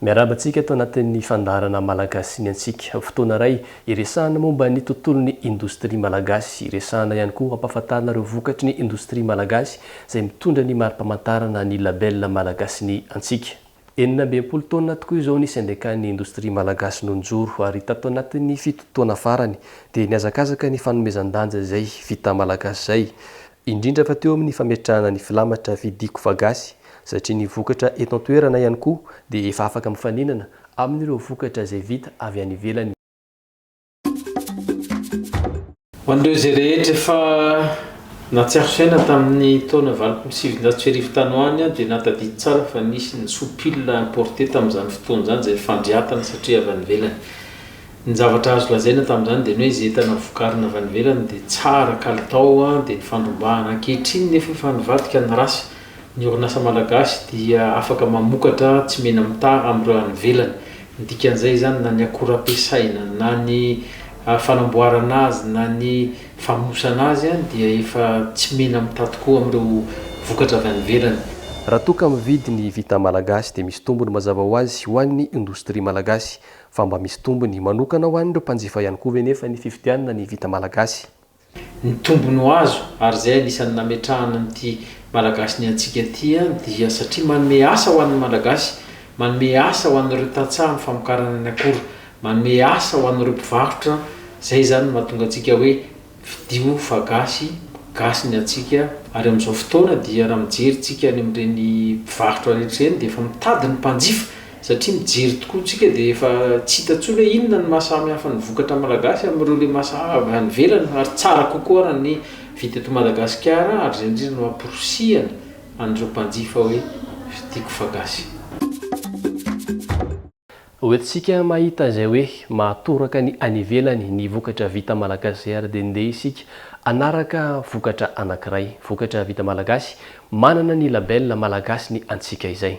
Miarahaba antsika ato anatin'ny fandaharana Malagasy ny antsika. Fotoana iray iresahana momba ny tontolon'ny indostria malagasy. Iresahana ihany koa hampahafantarina ireo vokatry ny indostria malagasy izay mitondra ny mari-pamantarana ny label Malagasy ny antsika. Enina amby enimpolo taonina tokoa izao nisy andekan'ny indostria malagasy nonjoro ary tato anatin'ny fito taona farany dia nihazakazaka ny fanomezan-danja izay vita malagasy izay, indrindra fa teo amin'ny fametrahana ny filamatra vidiko fa gasy satria ny vokatra eto an-toerana ihany koa dia efa afaka mifaninana amin'ireo vokatra izay vita avy any ivelany. Ho an'ireo izay rehetra efa nahatsiaro saina tamin'ny taona valopolo sy sivinjato sy arivo tany ho any aho dia nahatadidy tsara fa nisy ny soupil importé tamin'izany fotoana izany izay fandriatana satria avy any ivelany. Ny zavatra azo lazaina tamin'izany dia ny hoe izay entana vokarina avy any ivelany dia tsara kalitao dia nifandrombahana. Ankehitriny nefa efa nivadika ny race. Ny orinasa malagasy dia afaka mamokatra tsy mena-mitaha amin'ireo any ivelany. Ny dikan'izay izany na ny akora ampiasaina, na ny fanamboarana azy, na ny famonosana azy dia efa tsy mena-mitaha tokoa amin'ireo vokatra avy any ivelany. Raha toa ka mividy ny vita malagasy dia misy tombony mazava ho azy ho an'ny indostria malagasy. Fa mba misy tombony manokana ho an'ireo mpanjifa ihany koa ve nefa ny fividianana ny vita malagasy? Ny tombony ho azo, ary izay anisan'ny nametrahana an'ity Malagasy ny antsika ity, dia satria manome asa ho an'ny Malagasy, manome asa ho an'ireo tantsaha amin'ny famokarana ny akora, manome asa ho an'ireo mpivarotra, izay izany no mahatonga antsika hoe fidio fa gasy, gasy ny antsika, ary amin'izao fotoana dia raha mijery tsika any amin'ireny mpivarotra rehetra ireny dia efa mitady ny mpanjifa, Satria mijery tokoa tsika dia efa tsy hita intsony hoe inona no maha samy hafa ny vokatra malagasy amin'ireo lemasaha avy any ivelany ary tsara kokoa raha ny vita eto Madagasikara ary izay indrindra no amporisihana an'ireo mpanjifa hoe vidiako fa gasy. Ho entintsika mahita izay hoe mahatoraka ny any ivelany ny vokatra vita malagasy ary dia ndeha isika hanaraka vokatra anankiray, vokatra vita malagasy, manana ny label malagasy ny antsika izay.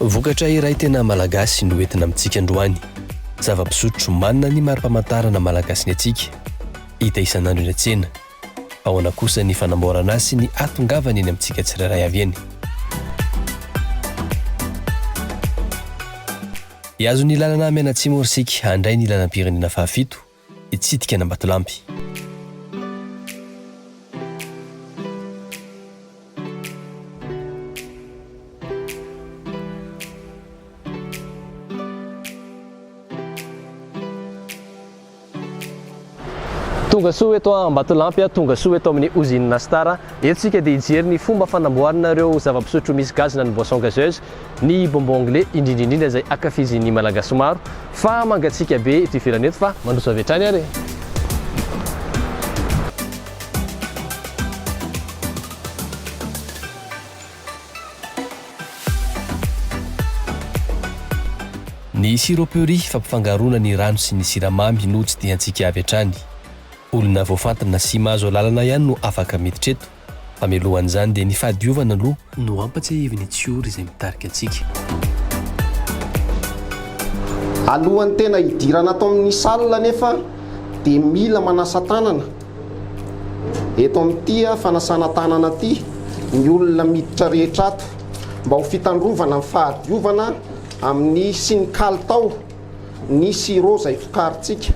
Vokatra iray tena Malagasy no entina amintsika androany. Zava-pisotro manana ny mari-pamantarana Malagasy ny antsika, hita isan'andro eny an-tsena. Ahoana kosa ny fanamboarana azy sy ny hahatongavany eny amintsika tsirairay avy eny? Hihazo ny lalana mianatsimo isika handray ny lalam-pirenena fahafito. hitsidika an'Ambatolampy. Tonga soa eto Ambatolampy a, tonga soa eto amin'ny Ozinina Star. Eto isika dia hijery ny fomba fanamboarana ireo zava-pisotro misy gazina ny boisson gazeuse. Ny bonbon anglais indrindra indrindra izay ankafizin'ny Malagasy maro fa mangatsiaka be eto ivelany eto fa mandroso avy hatrany ary e! Ny siroperie fampifangaroana ny rano sy ny siramamy no tsidihantsika avy hatrany. Olona voafantina sy mahazo alalana ihany no afaka miditra eto. Hamelohan'izany dia ny fahadiovana aloha no hampatsiahivin'ny tsiory izay mitarika antsika. Alohan'ny tena hidirana ato amin'ny salle anefa dia mila manasa tanana eto amin'ity fanasana tanana ity ny olona miditra rehetra ato mba ho fitandrovana ny fahadiovana amin'ny sy ny kalitao ny sirop izay vokarintsika.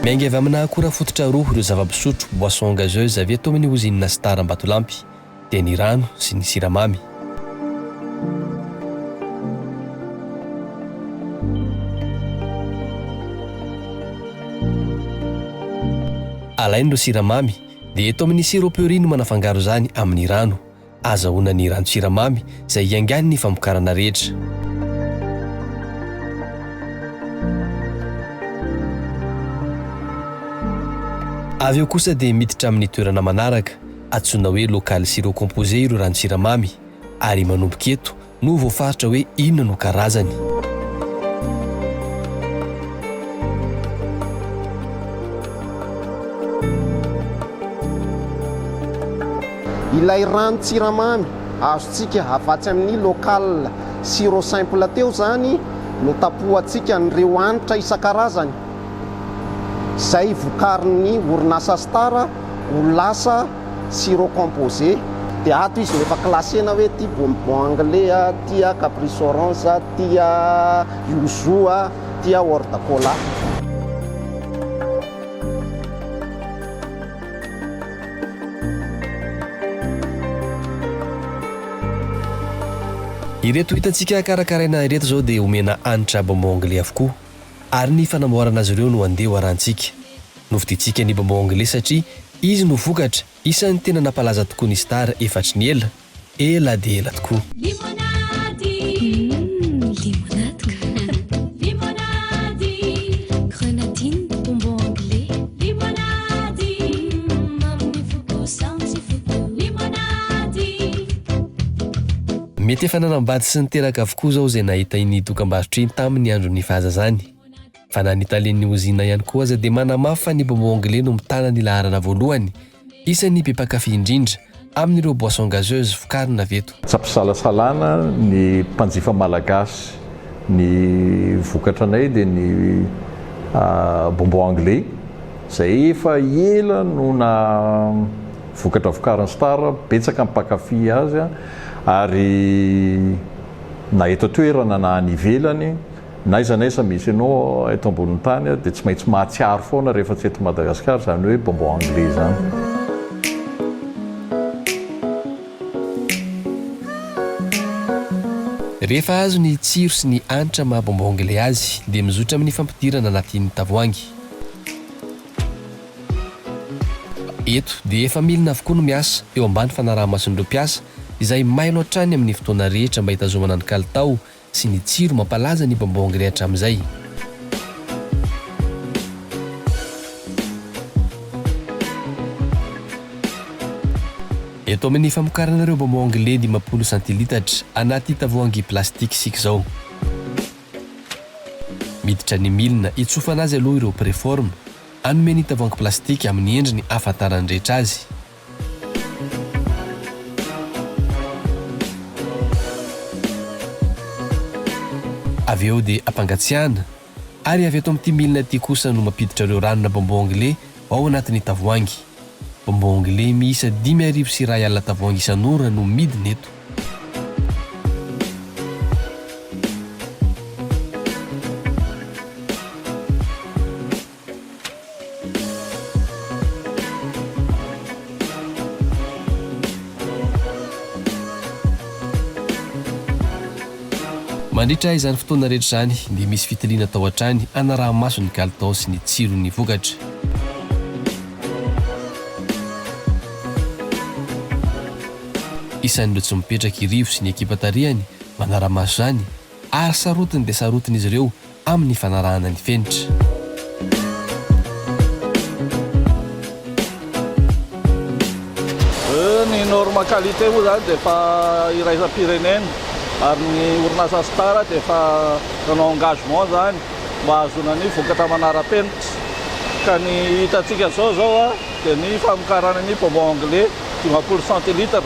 Miainga avy amina akora fototra roa ireo zava-pisotro, boissons gazeuses, avy eto amin'ny ozinina Star Ambatolampy. dia ny rano sy ny siramamy. Alainy ireo siramamy dia eto amin'ny sirop puree no manafangaro izany amin'ny rano. Azahoana ny ranon-tsiramamy izay hiaingàny ny famokarana rehetra. Avy eo kosa dia miditra amin'ny toerana manaraka. Antsoina hoe local sirop composé ireo ranon-tsiramamy ary manomboka eto no voafaritra hoe inona no karazany. Ilay ranon-tsiramamy azontsika avatsy amin'ny local sirop simple teo izany no tapohantsika an'ireo hanitra isan-karazany izay vokarin'ny orinasa Star. ho lasa sirop composé dia ato izy no efa classena hoe ity bonbon anglais a, ity a caprice orange a, ity a yuzu a, ity a horde cola. Ireto hitantsika karakaraina ireto izao dia omena hanitra bonbon anglais avokoa ary ny fanamboarana azy ireo no andeha ho arahantsika. Novidintsika ny bonbon anglais satria izy no vokatra isan'ny tena nampalaza tokoa ny Star efatry ny ela, ela dia ela tokoa. Limonady, Umm, limonady ka! Limonady, Grenadine, bonbon anglais. Limonady, Umm, amin'ny foko saontsy foko. Limonady. Mety efa nanambady sy niteraka avokoa izao izay nahita iny dokambarotra iny tamin'ny andron'ny fahazazany. Fa na ny talen'ny ozinina ihany koa aza dia manamafy fa ny bonbon anglais no mitana ny laharana voalohany, isan'ny be mpankafy indrindra, amin'ireo boissons gazeuses vokarina avy eto. Tsy am-pisalasalana ny mpanjifa malagasy, ny vokatra anay dia ny bonbon anglais, izay efa ela no na vokatra vokarin'ny Star, betsaka ny mpankafy azy ary na eto an-toerana na any ivelany. N'aiza n'aiza misy anao eto ambonin'ny tany aho dia tsy maintsy mahatsiaro foana rehefa tsy eto Madagascar izany hoe bonbon anglais izany. Rehefa azo ny tsiro sy ny hanitra maha bonbon anglais azy dia mizotra amin'ny fampidirana anatin'ny tavoahangy. Eto dia efa milina avokoa no miasa eo ambany fanaraha-mason'ireo mpiasa izay mailo hatrany amin'ny fotoana rehetra mba hitazomana ny kalitao sy ny tsiro mampalaza ny bambong ry hatramin'izay. Eto amin'ny famokarana ireo bambong le dimampolo santilitatra anaty tavoahangy plastique isika izao. Miditra ny milina hitsofana azy aloha ireo preforme, hanome ny tavoahangy plastique amin'ny endriny ahafantaran'ny rehetra azy. Avy eo dia ampangatsiahana ary avy ato amin'ity milina ity kosa no mampiditra ireo ranona bonbon anglais ao anatin'ny tavoahangy. Bonbon anglais miisa dimy arivo sy iray alina tavoahangy isan'ora no midina eto. Mandritra izany fotoana rehetra izany dia misy fitiliana atao hatrany hanaraha-maso ny kalitao sy ny tsiron'ny vokatra. Isan'ireo tsy mipetraka i Rivo sy ny ekipa tarihany manara-maso izany, ary sarotiny dia sarotiny izy ireo amin'ny fanarahana ny fenitra. Ny norme qualité moa izany dia efa iraisam-pirenena ary ny orinasa Star dia efa nanao engagement izany mba hahazoana ny vokatra manara-penitra ka ny hitantsika izao izao dia ny famokarana ny bonbon anglais dimampolo centilitres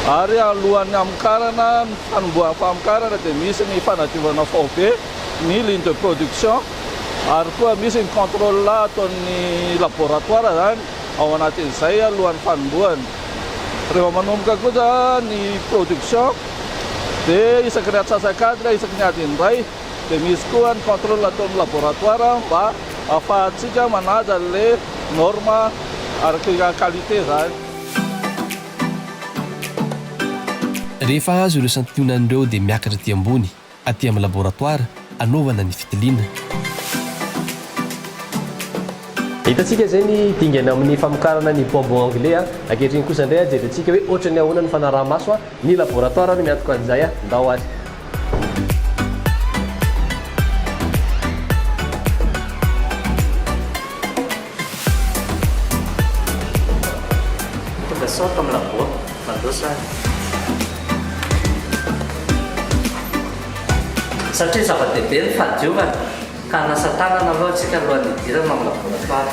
ary alohan'ny hamokarana ny fanombohan'ny famokarana dia misy ny fanadiovana faobe ny ligne de production ary koa misy ny contrôle ataon'ny laboratoire izany ao anatin'izay alohan'ny fanombohany rehefa manomboka kosa ny production dia isaky ny atsasak'adiny isaky ny adiny iray Dia misy koa ny contrôle atao amin'ny laboratoire mba ahafahantsika manaja an'ilay norme araka qualité izany. Rehefa azo ireo santionany ireo dia miakatra aty ambony, aty amin'ny laboratoire, anaovana ny fitiliana. Hitantsika izay ny dingana amin'ny famokarana ny bonbon anglais. Ankehitriny kosa indray, jerentsika hoe ohatran'ny ahoana ny fanaraha-maso Ny laboratoire no miantoka an'izay a! Ndao ary. Tonga sao ato amin'ny labo aho. Mandroso ary. Satria zava-dehibe ny fahadiovana ka hanasa tanana aloha isika alohan'ny hidirana ao amin'ny laboratoire.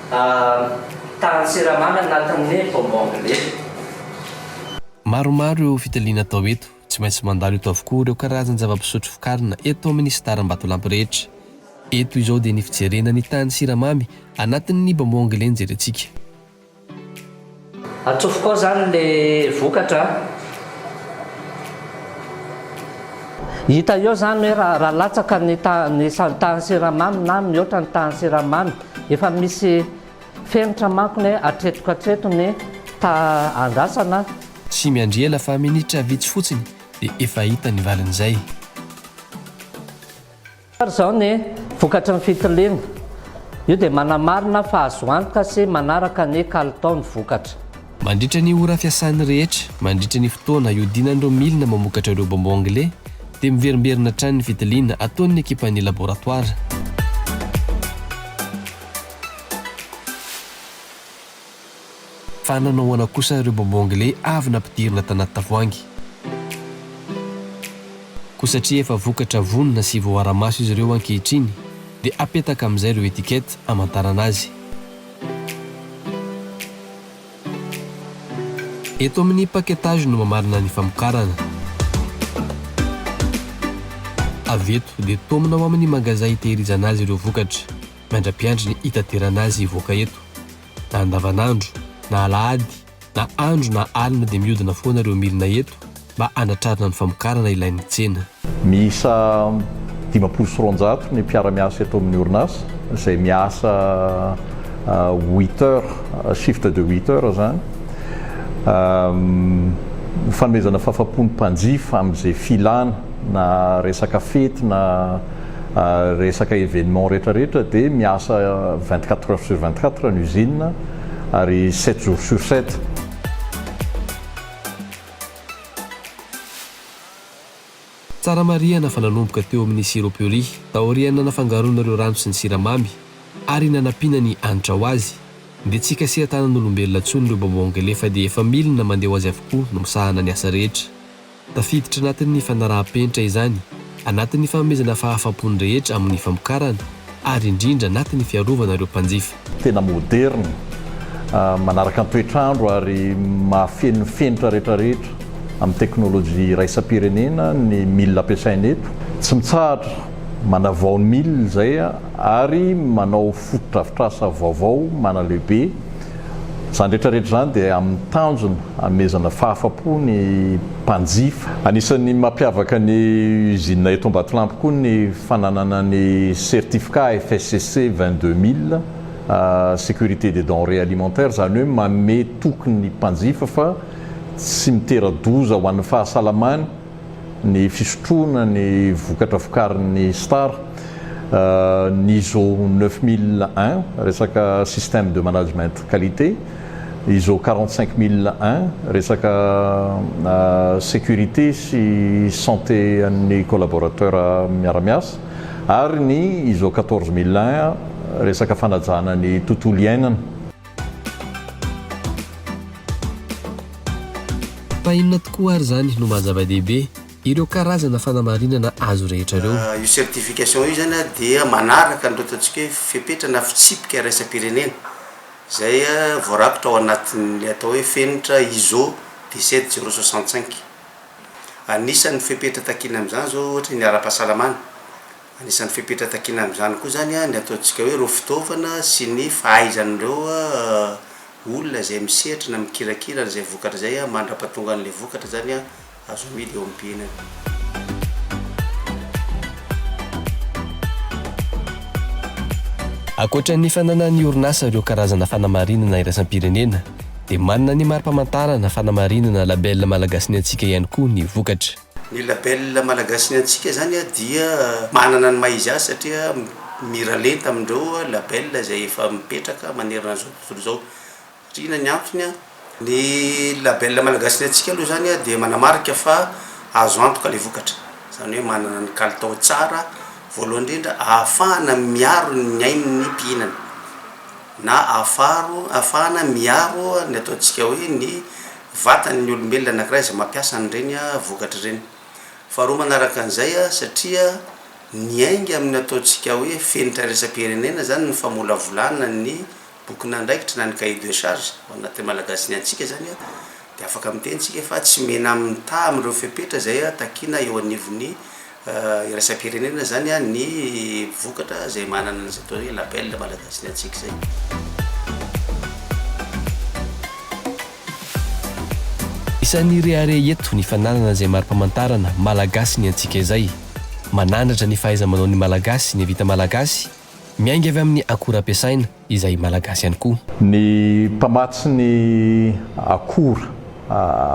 Tahan'ny siramamy anatin'ny bonbon glacé. Maromaro ireo fitiliana atao eto. Tsy maintsy mandalo eto avokoa ireo karazan-java-pisotro vokarina eto amin'ny Star Ambatolampy rehetra. Eto izao dia ny fijerena ny tahan'ny siramamy anatin'ny bonbon glacé no jerentsika. Atsofoko ao zany le vokatra a. Hita eo zany hoe raha latsaka ny tahan'ny siramamy na mihoatra ny tahan'ny siramamy, efa misy fenitra manko ny hoe hatretiko hatreto ny taha andrasana. Tsy miandriana fa minitra vitsy fotsiny dia efa hita ny valin'izay. Ary izao ny vokatry ny fitiliana, io dia manamarina fa azo antoka sy manaraka ny kalitao ny vokatra. Mandritra ny ora fiasany rehetra, mandritra ny fotoana hiodinan'ireo milina mamokatra ireo bonbons anglais, dia miverimberina hatrany ny fitiliana ataon'ny ekipan'ny laboratoara. Fa nanao ahoana kosa ireo bonbon anglais avy nampidirina tanaty tavoahangy? Koa satria efa vokatra vonona sy voara-maso izy ireo ankehitriny dia apetaka amin'izay ireo étiquettes hamantarana azy. Eto amin'ny paquetage no mamarina ny famokarana. Avy eto dia taomina ao amin'ny magasin hitehirizana azy ireo vokatra. miandrampiandry ny hitaterana azy hivoaka eto. Na andavanandro, na alahady, na andro na alina dia mihodina foana ireo milina eto mba hanatrarana ny famokarana ilain'ny tsena. Miisa dimampolo sy roanjato ny mpiara-miasa eto amin'ny orinasa izay miasa huit heures, shift de huit heures izany. Ny fanomezana fahafapo ny mpanjifa amin'izay filana na resaka fety na. resaka événement rehetra rehetra dia miasa vingt quatre heures sur vingt quatre ny usine ary sept jours sur sept. Tsara marihana fa nanomboka teo amin'ny sirop puri, taorian'ny nanafangaroana ireo rano sy ny siramamy ary nanampiana ny hanitra ho azy, dia tsy hikasihan-tanan'olombelona intsony ireo baobongele fa dia efa milina mandeha ho azy avokoa no misahana ny asa rehetra. Tafiditra anatin'ny fanaraham-penitra izany, anatin'ny fanomezana fahafampony rehetra amin'ny famokarana, ary indrindra anatin'ny fiarovana ireo mpanjifa. Tena moderina, manaraka ny toetr'andro ary mahafeno ny fenitra rehetrarehetra amin'ny teknolojia iraisam-pirenena ny milina ampiasaina eto. Tsy mitsahatra manavao ny milina izay ary manao. fotodrafitrasa vaovao manalehibe. Izany rehetra rehetra izany dia amin'ny tanjona hanomezana fahafa-po ny mpanjifa. Anisan'ny mampiavaka ny Usine eto Ambatolampy koa ny fananana ny certificat FSCC vingt deux mille, Sécurité des denrées alimentaires, izany hoe manome toky ny mpanjifa fa tsy mitera-doza ho an'ny fahasalamany, ny fisotroana ny vokatra vokarin'ny Star, ny ISO neuf mille un, resaka système de management qualité, ISO quarante cinq mille un, resaka sécurité sy santé an'ny collaborateur miara-miasa, ary ny ISO quatorze mille un, resaka fanajana ny tontolo iainana. Fa inona tokoa ary izany no maha zava-dehibe? Ireo karazana fanamarinana azo rehetra ireo. Io certification io izany dia manaraka an'ireo ataontsika hoe fepetra na fitsipika iraisam-pirenena izay voarakitra ao anatin'ny atao hoe fenitra ISO dix-sept zero soixante-cinq. Anisan'ny fepetra takiana amin'izany izao ohatra ny ara-pahasalamana. Anisan'ny fepetra takiana amin'izany koa izany ny ataontsika hoe ireo fitaovana sy ny fahaizan'ireo olona izay misehatra na mikirakira an'izay vokatra izay mandra-pahatonga an'ilay vokatra izany azo amidy eo amin'ny mpihinana. Ankoatra ny fananan'ny orinasa ireo karazana fanamarinana iraisam-pirenena dia manana ny mari-pamantarana fanamarinana label Malagasy Ny Antsika ihany koa ny vokatra. Ny label Malagasy ny antsika zany dia manana ny maha izy azy satria miralenta amindreo label izay efa mipetraka manerana an'izao tontolo izao. Satria inona ny antony? Ny label Malagasy ny antsika aloha zany dia manamarika fa azo antoka ilay vokatra, zany hoe manana ny kalitao tsara voalohany indrindra ahafahana miaro ny ain'ny mpihinana na ahafaharo ahafahana miaro ny ataontsika hoe ny vatany ny olombelona anankiray izay mampiasa an'ireny vokatra ireny. Faharoa manaraka an'izay, satria miainga amin'ny ataontsika hoe fenitra iraisam-pirenena izany ny famolavolana ny bokin'andraikitra na ny cahier de charge ao anatin'ny Malagasy ny antsika izany dia afaka miteny isika fa tsy menamintà amin'ireo fepetra izay takiana eo anivon'ny iraisam-pirenena izany ny vokatra izay manana an'izay atao hoe label Malagasy ny antsika izay. Isan'ny rehareha eto ny fananana izay mari-pamantarana Malagasy ny antsika izay. Manandratra ny fahaiza-manaon'ny Malagasy ny vita Malagasy Miainga avy amin'ny akora ampiasaina, izay Malagasy ihany koa. Ny mpamatsy ny akora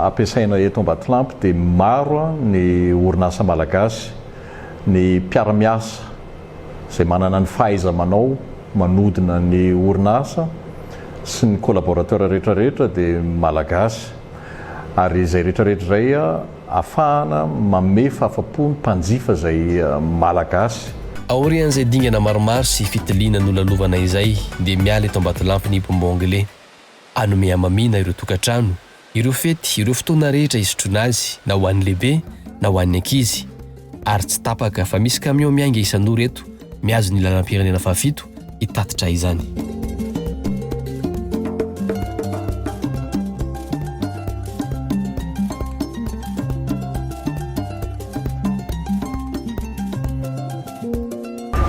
ampiasaina eto Ambatolampy dia maro ny orinasa Malagasy, ny mpiara-miasa izay manana ny fahaiza-manao manodina ny orinasa sy ny collaborateurs rehetra rehetra dia Malagasy ary izay rehetra rehetra izay Afahana manome fahafa-po ny mpanjifa izay Malagasy. Aorian'izay dingana maromaro sy fitiliana nolalovana izay dia miala eto Ambatolampy ny Pombo Anglais. Hanome hamamiana ireo tokantrano, ireo fety, ireo fotoana rehetra hisotroana azy na ho an'ny lehibe na ho an'ny ankizy. Ary tsy tapaka fa misy camion miainga isan'ora eto, mihazo ny lalam-pirenena fahafito, hitatitra izany.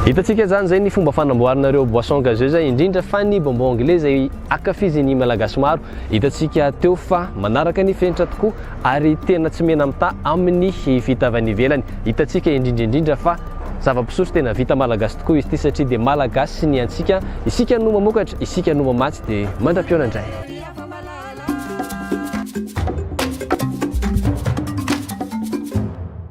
Hitantsika izany izay ny fomba fanamboarinareo boisson gazeuse indrindra fa ny bonbon anglais izay akafizin'ny malagasy maro. Hitantsika teo fa manaraka ny fenitra tokoa ary tena tsy mena-mitaha amin'ny fitaovana ivelany. Hitantsika indrindra indrindra fa zava-pisotro tena vita malagasy tokoa izy ity satria dia malagasy ny antsika, isika no mamokatra, isika no mamatsy dia mandra-pihaona indray.